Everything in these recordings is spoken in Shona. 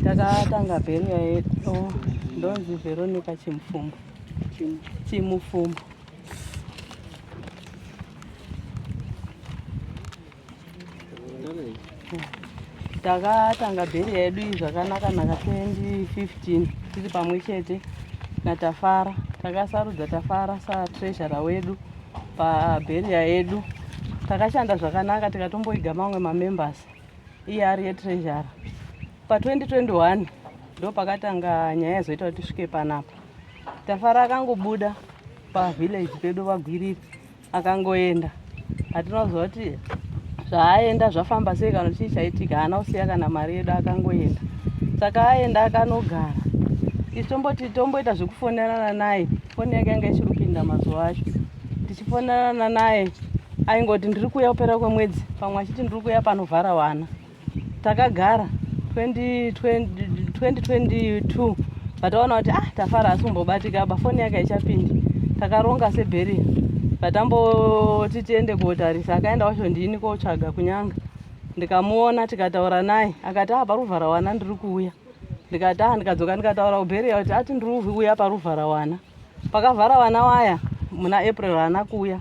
takatanga bheriya yedu oh, ndonzi veronica chimufumbo chimufumbo takatanga bheri yedu iyi zvakanaka naka 2015 tiri pamwe chete natafara takasarudza tafara satreasura wedu pabheriya yedu takashanda zvakanaka tikatomboiga mamwe mamembers iye ari yetreasure pa 2021 ndo pakatanga nyaya yazoita kuti tisvike panapa tafara akangobuda pavillage pedu vagwiriri akangoenda hatina kuziva kuti zvaaenda zvafamba sei kana chii chaitika haana kusiya kana mari yedu akangoenda saka aenda akanogara isu tomboti tomboita zvekufonerana naye foni yake yanga ichiri kupinda mazuva acho ndichifonana naye aingoti ndiri kuuya kupera kwemwedzi pamwe achiti ndiri kuuya panovhara wana takagara 2022 vataona kuti ah tafara asi kumbobatika ba foni yake haichapindi takaronga sebheriya vatamboti tiende kotarisa akaenda wacho ndini kotsvaga kunyanga ndikamuona tikataura naye akati ah paruvhara wana ndiri kuuya ndikati ah ndikadzoka ndikataura kubheriya kuti ati ndiri kuuya paruvhara wana Pakavhara vana waya muna April haana kuuya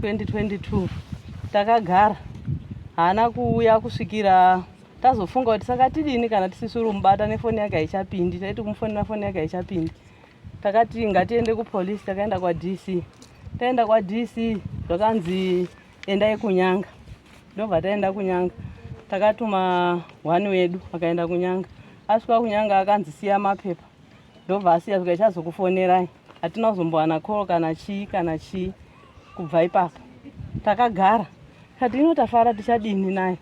2022 takagara haana kuuya kusvikira tazofunga kuti saka tidini kana tisisiri kumubata nefoni yake haichapindi taiti kumufonera foni yake haichapindi takati ngatiende kupolice takaenda kwadc taenda kwadc zvakanzi endai kunyanga ndobva taenda kunyanga takatuma hwani wedu akaenda kunyanga asvika kunyanga akanzi siya mapepa ndobva asiya zvika ichazokufonerai hatina kuzombowana call kana chii kana chii kubva ipapo takagara kati ino tafara tichadini naye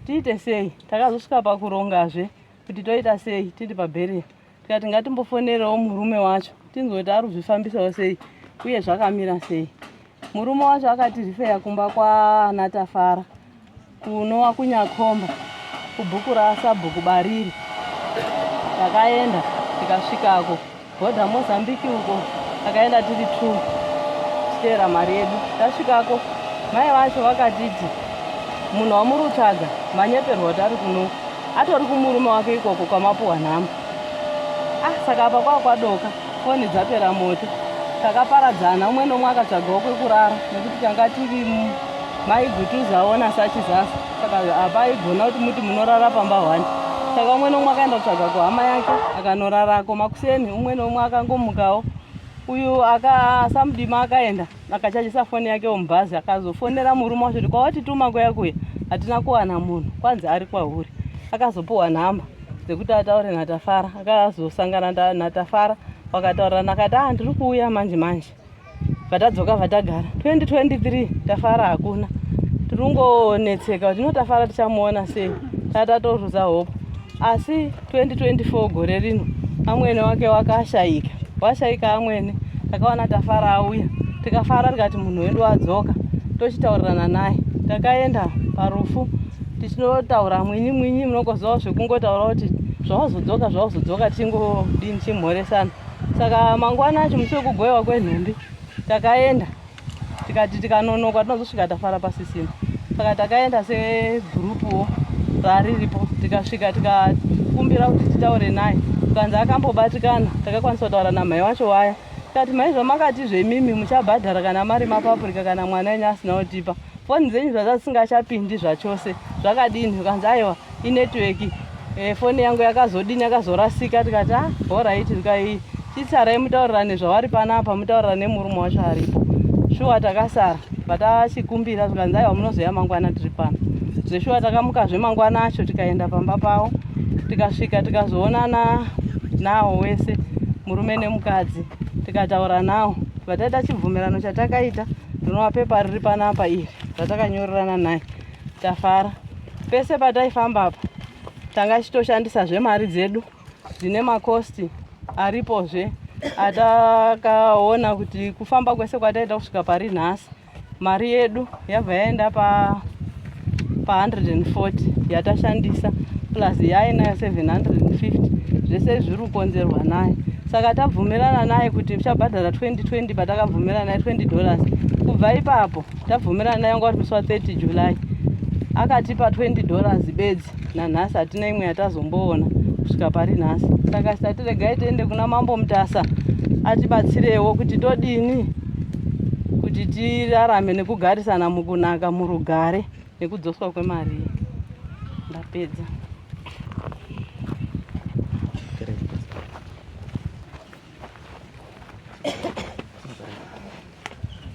tiite sei takazosvika pakurongazve kuti toita sei tiri pabheriya tikati ngatimbofonerewo murume wacho tinzwe kuti ari kuzvifambisawo sei uye zvakamira sei Murume wacho akati rifeya kumba kwaana Tafara kunowa kunyakhomba kubhuku rasabhuku bariri. Takaenda tikasvikako bhodha Mozambique uko takaenda tiri two tichiteera mari yedu. Tasvikako mai vacho vakatiti munhu wamuri kutsvaga manyeperwa kuti ari kuno atori kumurume wake ikoko kwamapuwa nhamo. Ah, saka apa kwakwadoka. foni dzapera moto takaparadzana umwe nomwe akatsvagawo kwekurara nekuti tanga tiri maigutuzawo nasachizasa saka hapaigona kuti muti munorara pamba hwani saka umwe nomwe akaenda kutsvaga kuhama yake akanorarako makuseni umwe nomwe akangomukawo uyu akasamudima akaenda Akachajisa foni yake mubhazi akazofonera murume wacho kuti kwawatituma kuya kuya hatina kuwana munhu kwanzi ari kwahuri. Akazopuhwa nhamba dzekuti ataure naTafara. Akazosangana naTafara wakataurirana akati ah ndiri kuuya manje manje. Vatadzoka vatagara 2023 Tafara hakuna. Tiri kungonetseka kuti no Tafara tichamuona sei. Tatatorudza hope. asi 2024 gore rino amwene wake wakashayika washayika amwene takawana tafara auya tikafara tikati munhu wedu wadzoka tochitaurirana naye takaenda parufu tichinotaura mwinyi mwinyi munokozivawo zvekungotaura kuti zvawazodzoka zvawazodzoka tichingodini chimhoresana saka mangwana acho musi wekugoiwa kwenhumbi takaenda tikati tikanonoka tinozosvika tafara pasisina saka takaenda segurupuwo raariripo tikasvika tikakumbira kuti titaure naye tukanzi akambobatikana takakwanisa kutaura namhai wacho waya tikati mhai zvamakati zvemimi muchabhadhara kana mari mapapurika kana mwana enyu asina kutipa foni dzenyu zvaza dzisingachapindi zvachose zvakadini ukanzi aiwa inetwork eh, foni yangu yakazodini yakazorasika tikati ah horaiti ndikai chitsarai mutaurirane zvavari panapa mutaurirane murume wacho aripo shuwa takasara vatachikumbira tikanzi aiwa munozoya mangwana tiri pano zveshuwa takamukazve mangwana acho tikaenda pamba pavo tikasvika tikazoonana nawo wese murume nemukadzi tikataura nawo vataita chibvumirano chatakaita ndinowa pepa riri panapa iri ratakanyorerana naye Tafara pese pataifamba apa tanga tichitoshandisa zvemari dzedu dzine makosti aripozve atakaona kuti kufamba kwese kwataita kusvika pari nhasi mari yedu yabva yaenda pa pa 140 yatashandisa plus yainayo 750 zvese zviri kukonzerwa naye saka tabvumirana naye kuti uchabhadhara 2020 patakabvumirana naye 20 dollars kubva ipapo tabvumirana yanga uri musi wa 30 july akatipa 20 dollars bedzi nanhasi hatina imwe yatazomboona kusvika pari nhasi saka sati regai tiende kuna mambo mutasa atibatsirewo kuti todini kuti tirarame nekugarisana mukunaka murugare nekudzoswa kwemari iyi ndapedza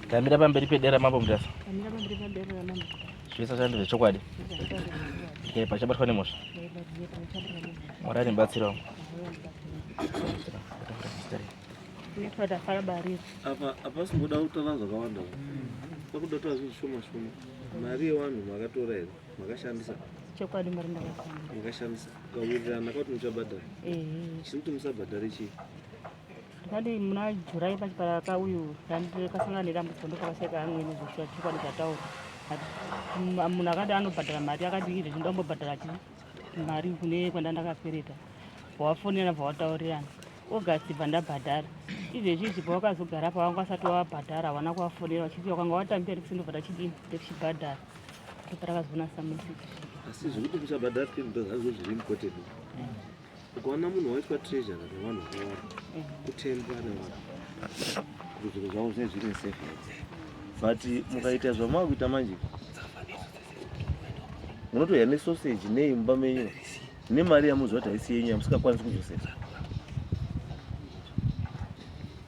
ndamira pamberi pedera mambo mutasa zvese zvandiri zvechokwadi eh, pachabatwa nemhosva eh, mwari andibatsirawo apa apa singoda kutaura zvakawanda pakuda kutaura zvinhu zvishoma shoma mari yevanhu makatora here makashandisa chokwadi mari ndakashandisa makashandisa kawirirana kwati muchabhadhara chiri kuti musabhadhare chii ndikati muna jurai pachipara kauyu kasangana nedambudziko ndokavaseka amweni zvoshuwa chokwadi zvataura munhu akati anobhadhara mari akati izvi ndambobhadhara chi mari kune kwanda ndakafereta bvawafonera bvawataurirana august bva ndabhadhara izvezvizvi pawakazogara pawanga asati wabhadhara hawana kuvafonera vachiti wakanga watambira ndikusindobva tachidini tekuchibhadhara asi zvekuti kuchabhadhara fee ndo zvazvo zviri mukoteni ukaona munhu waitwa treasure nevanhu vakawanda kutembwa nevanhu kuti zviro zvavo zvinee zviri nesafe but mukaita zvamava kuita manje munotoya nesoseji nei mumba menyu nemari yamuziva kuti haisi yenyu yamusingakwanisi kuzosesa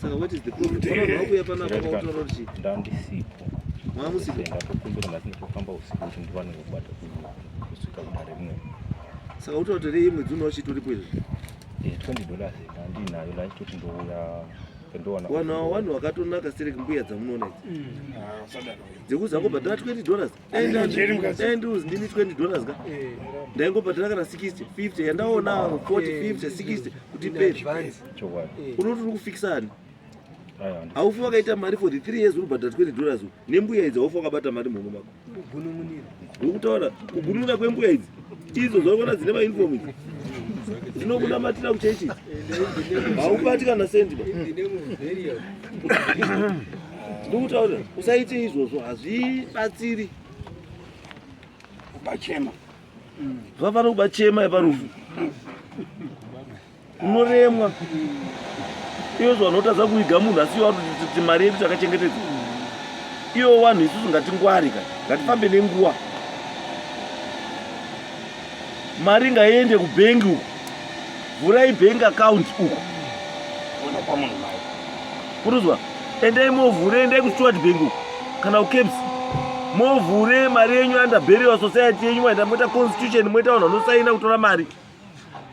Saka what is the problem? Unoda wakuya pano apa kwautaura kuti ndandisipo. Mwa musipo. Ndakukumbira ngati ndikufamba usiku kuti ndiwane kubata kusvika kudare rimwe. Saka utotere imwe dzino uchitoripo izvi. Eh 20 dollars ndandinayo la chitoti ndouya ndoona. Wana wanu wakatonaka siri kumbuya dzamunoona idzi. Mm. Ah, sadaka. Dzekuzango bhadhara 20 dollars. ndaimbos ndini 20 dollars ka ndaingobhadhara kana 60 50 yandaona 40 50 60 kuti pei unoti uri kufikisani haufi wakaita mari for the three years uri kubhadhara 20 dollars nembuya idzi haufi wakabata mari mhomo mako ndokutaura kugununira kwembuya idzi idzo zvaona dzine mainfom idzi dzinokunamatira kuchechi haubatikana sendi ndikutaura usaite izvozvo hazvibatsiri kubachema zvafana kubachema yeparufu unoremwa iyo zvanotadza kuiga munhu asi iyo atoti mari yedu takachengetedza iyo wanhu isusu ngatingwari ka ngatifambe nenguva mari ngaiende kubhengi uko vhurai bhengi akaunti uko kuruzwa endai movhure endai kusteward bhengi uko kana ucaps movhure mari yenyu under burial society yenyu maenda moita constitution moita vanhu vanosaina kutora mari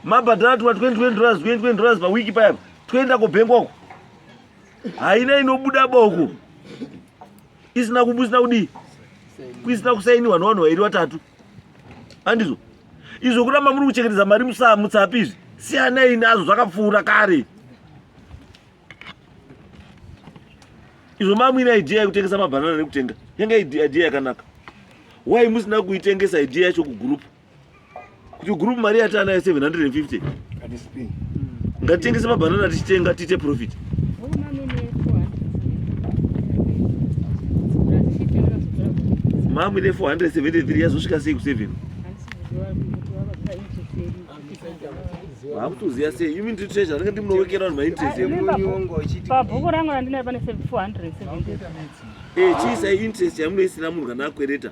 mabhadhara tuma 20 20 dollars 20 20 dollars pawiki payapa toenda kobhengi wako haina inobuda boko isina kumusina kudii kuisina kusainiwa nevanhu vairi vatatu andizvo izvo kuramba muri kuchengetedza mari musamutsapi izvi siyanai nazvo zvakapfuura kare izvo mamwine idea yekutengesa mabhanana nekutenga yanga idea yakanaka why musina kuitengesa idea yacho kugurupu kuti group mari yatanayo 750 ngatitengese mabanana tichitenga tiite profit mamwe ne 473 yazosvika sei ku7 hakutoziva sei you mean to treasure ndinge ndimunowekera vanhu mainterestpabhuku rangu randinayo pane 473 eh chiisa interest yamunoisina munhu kana akwereta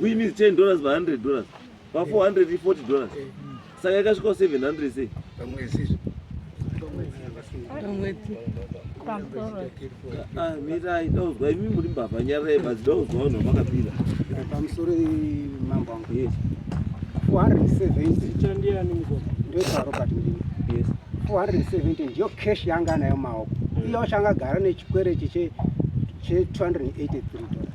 which means 10 dollars pa 100 dollars pa 440 dollars saka ikasvika 700 sei pamwezi ah, mirai ndauzwa imi muri mbavha nyarai basi ndauzwa vanhu vamakapira pamusoro mambo angu yes 470 chandiani mukoma ndoitaro kati ndini yes 470 ndiyo cash yanga nayo maoko mm. iyo changa gara nechikwere chiche che 283 dollars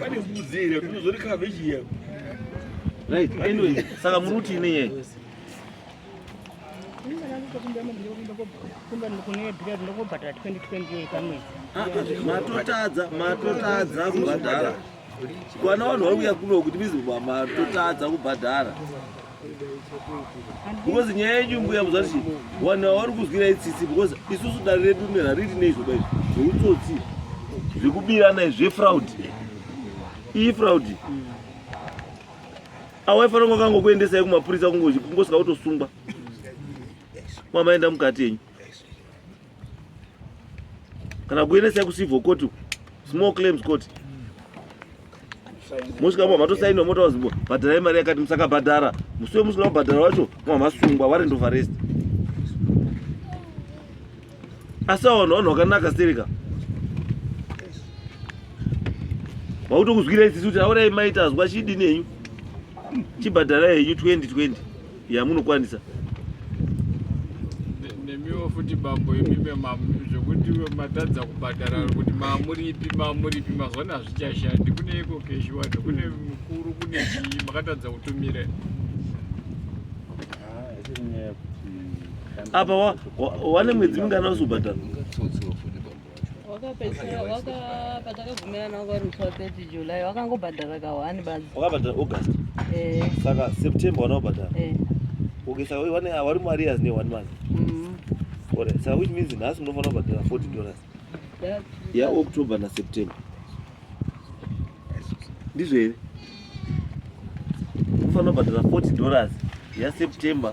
pane mbudzi here kunozori cabbage here right anyway saka muri kuti ine nyaya matotadza matotadza kubhadhara kwana vanhu vari kuya kuno kuti mizobwa matotadza kubhadhara because nyaya yenyu mbuya muzati vanhu ava vari kuzwira itsitsi because isusu dare redu ne rariti neizvoba izvi zveutsotsi zvekubirana zvefraud iyi fraud awaifanira kunge kangokuendesai kumapurisa kungosvika kutosungwa mwamaenda mukati yenyu kana kuendesa kucivil court uku small claims court mosvika mwa matosainwa motaura zimbo bhadharai mari yakati musakabhadhara musi wemusina kubhadhara wacho mwa masungwa warent of arrest asi awanhu vanhu vakanaka stereka vakutokuzwira isisi kuti aurai maita azwa chidini henyu chibhadharai henyu 2020 yamunokwanisa nemiwo futi bambo imime zvekuti matadza kubhadhara kuti mamuripi mamuripi mazwana hazvichashandi kune iko keshi wacho kune mukuru kune chii makatadza kutumire apa wane mwedzi mingana uzobhadhara wakapedzisira waka patakabvumirana waka uri 30 july wakangobhadhara ka 1 basi wakabhadhara august eh saka september wanaobhadhara eh okay saka wani wari mu arrears ne 1 month mhm ore saka which means nhasi munofanira kubhadhara 40 dollars ya october na september ndizvo here munofanira kubhadhara 40 dollars ya september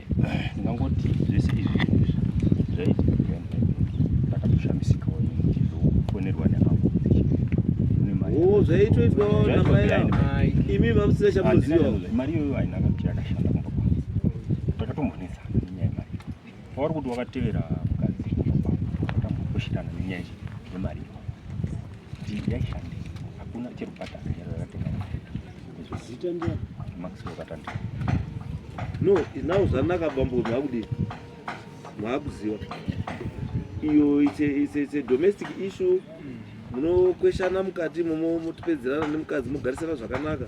ndingangoti zvese izvi zvinhu izvi zvaiti ndakatoshamisikawo ndizofonerwa neavo oh, zvaitoitwa imi mamusina chamunoziva mari iyoyo haina kuti yakashanda kumba kwangu takatombonetsa nenyaya yemari wauri kuti wakatevera mukadzi takambokoshirana nenyaya yemari iyo kuti yaishande hakuna chero bhata akaera yakatenga Zita ndiye Maxwell Katanda. No, now zvanaka bambo makudi. Makuziwa. Iyo it's a, it's a, it's a domestic issue. Munokweshana mukati momo mutipedzerana nemukadzi mugarisana zvakanaka.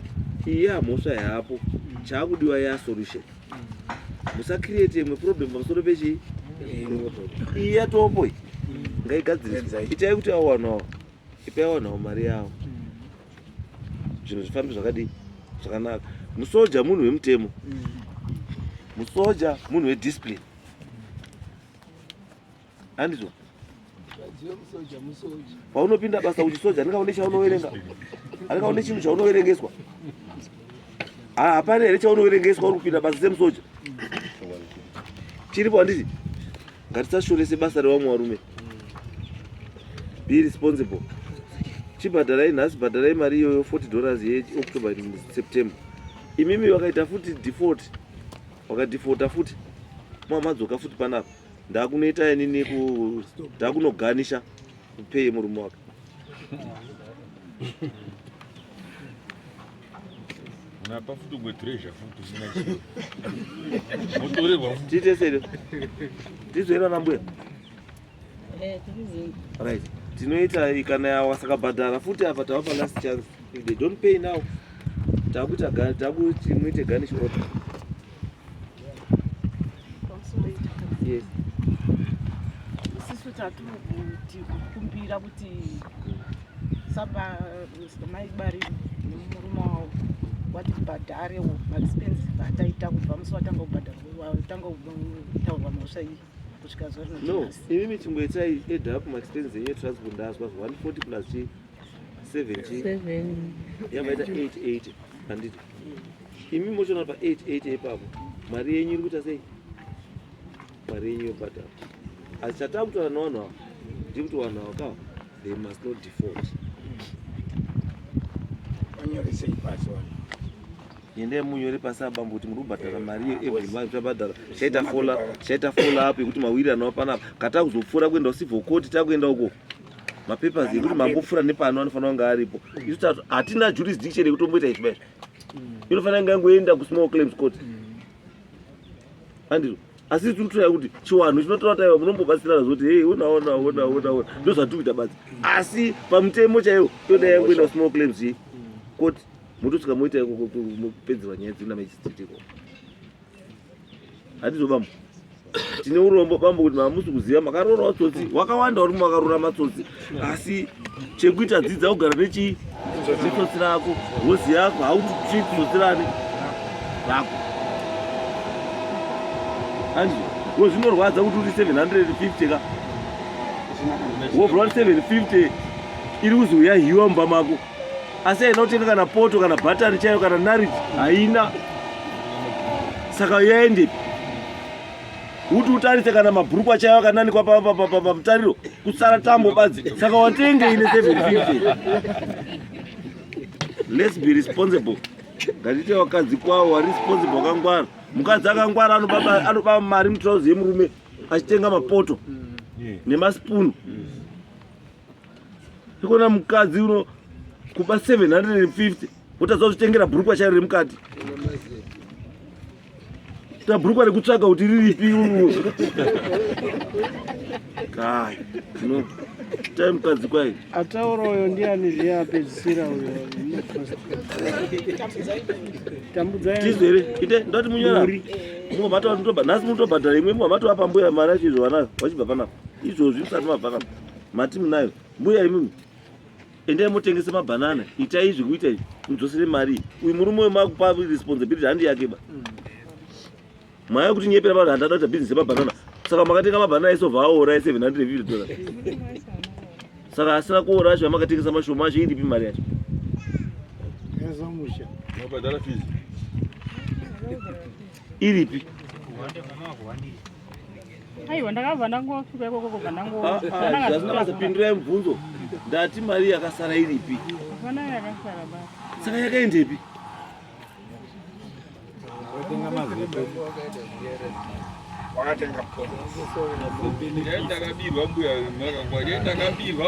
Iyi hamhosva yapo. Chakudiwa ya solution. Musa create imwe problem pamusoro pechi. Iyi yatopo iyi. Ngaigadzirisa. Itai kuti awanawo. Ipai awanawo mari yawo. zvinhu zvifambe zvakadii zvakanaka musoja munhu wemutemo musoja munhu wediscipline andizvo paunopinda basa uchisoja andikaone chaunoverenga andikaone chinhu chaunoverengeswa ah, hapana here chaunoverengeswa uri kupinda basa semusoja chiripo handiti ngatisashorese basa revamwe varume be responsible chibhadharai nhasi bhadharai mari iyoyo 40 dollars yeoctober september imimi vakaita futi default vakadefaulta futi mamadzoka futi panapa ndakunoita inini ndakunoganisha kupei murume wake Unapa futi umwe treasure futi usina chiro. Motorerwa futi. Tiite sei? Tizera na mbuya. Eh, tizera. Right. Tinoita ikana ya wasakabhadhara futi apa tava pa last chance. If they don't pay now, takuita gani, takuti muite gani short. Yes. Isisu tatiri kuti kukumbira kuti saba mai bari nemurume wavo watibhadharewo maexpense ataita kubva musi watanga kubhadharwatanga kutaurwa mhosva iyi kusvika zuva rino no imimi chingoitai ed up maexpense enyu transport ndazwa 140 plus chii imi mochona pa 88 ipapo mari yenyu iri kuita sei mari yenyu yobhadhara asi chatava kutaura navanhu ava ndiri kuti vanhu ava ka they must not default yendai munyore pasi abambo kuti muri kubhadhara mari iyo every month tabhadhara chaita fola chaita fola up yekuti mawiri anova panapa katava kuzopfuura kuenda usibvokoti takuenda uko mapapers ekuti mambopfura nepano anofanira kunge aripo isu tati hatina jurisdiction yekutomboita izvi maizvo inofanira kunge yangoenda kusmall claims court andizvo asi tiri kutoya kuti chiwanhu chinotora taiwa munombobatsirana zoti hei onaona ona ona ona ndo zvatiri kuita badzi asi pamutemo chaiwo toda yangoenda kusmall claims court motosvika moita kupedzerwa nyaya dzina mechistitiko Hatizo bambo. Tine urombo bambo kuti mamusi kuziva makarora watsotsi wakawanda uri makarora matsotsi asi chekuita dzidza kugara nechi chitsotsi rako hozi yako hauti chitsotsi rani rako. Anzi wozvinorwadza kuti uri 750 ka. Wobva 750 iri kuzi uyahiwa mumba mako. asi haina kutenga kana poto kana bhatani chaiyo kana nariti haina saka yaendepi uti utarise kana mabhurukwa chaiyo akananikwa pamutariro kusara tambo badzi saka watenge ine 750 let's be responsible ngatiite vakadzi kwavo wari responsible wakangwara mukadzi akangwara anobaba mari mutrauzi yemurume achitenga mapoto mm. nemaspoon mm. ikona mukadzi uno kuba 750 wotadza kuzvitengera bhurukwa chairo remukati ta bhurukwa rekutsvaga kuti riripi kai no tai mukadzi kwai ataura uyo ndiani zviye apedzisira uyo tambudzaiizo here ite ndoti munyora mumwe matova ndobha nhasi munotobhadhara imwe mumwe matova pambuya mari achizvovanayo wachibva panapa izvozvi musati mabva kapa mati munayo mbuya imimi endai motengese mabanana itai izvi kuita izvi mudzosere mari uyu murume uyo makupa responsibility handi yake ba mm. maya kuti nyepera vanhu handada kuita business yemabanana saka makatenga mabanana ese obva aora e 750 dollars saka asina kuora acho amakatengesa mashoma acho iripi mari yacho iripi aiwa ndakabva ndangosvika ikoko kubva ndangozvipindirai mubvunzo ndati mari yakasara iripi hapana yakasara ba saka yakaendepi wakatenga ndakabirwa mbuya ndakabirwa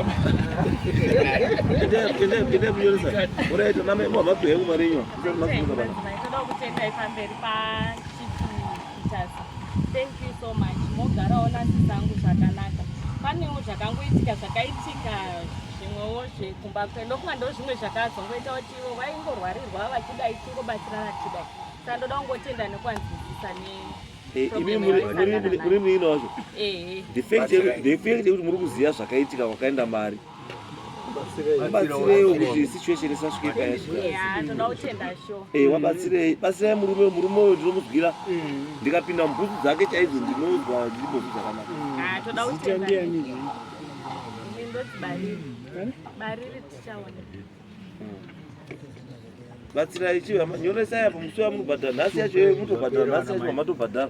Mutasa. Thank you so much. Mogarawo nasi zangu zvakanaka. Panewo zvakangoitika zvakaitika zvimwewo zvekumba kwedu ndofunga ndo zvimwe zvakazongoita kuti ivo vaingorwarirwa vachidai chingobatsirana tichidai saka ndoda kungotenda nekuvanzwisisa ne eh, imi muri muino wazvo eh, eh. defect yekuti muri kuziva zvakaitika kwakaenda mari wabatsirei batsirai murume murume uyo ndinomudzwira ndikapinda mubhutsu dzake chaidzo ndinonzwa ndibhutsu dzakanaka batsirai chiva nyoresai apo musi wamunobhadhara nhasi yacho mutobhadhara nhasi yacho mamatobhadhara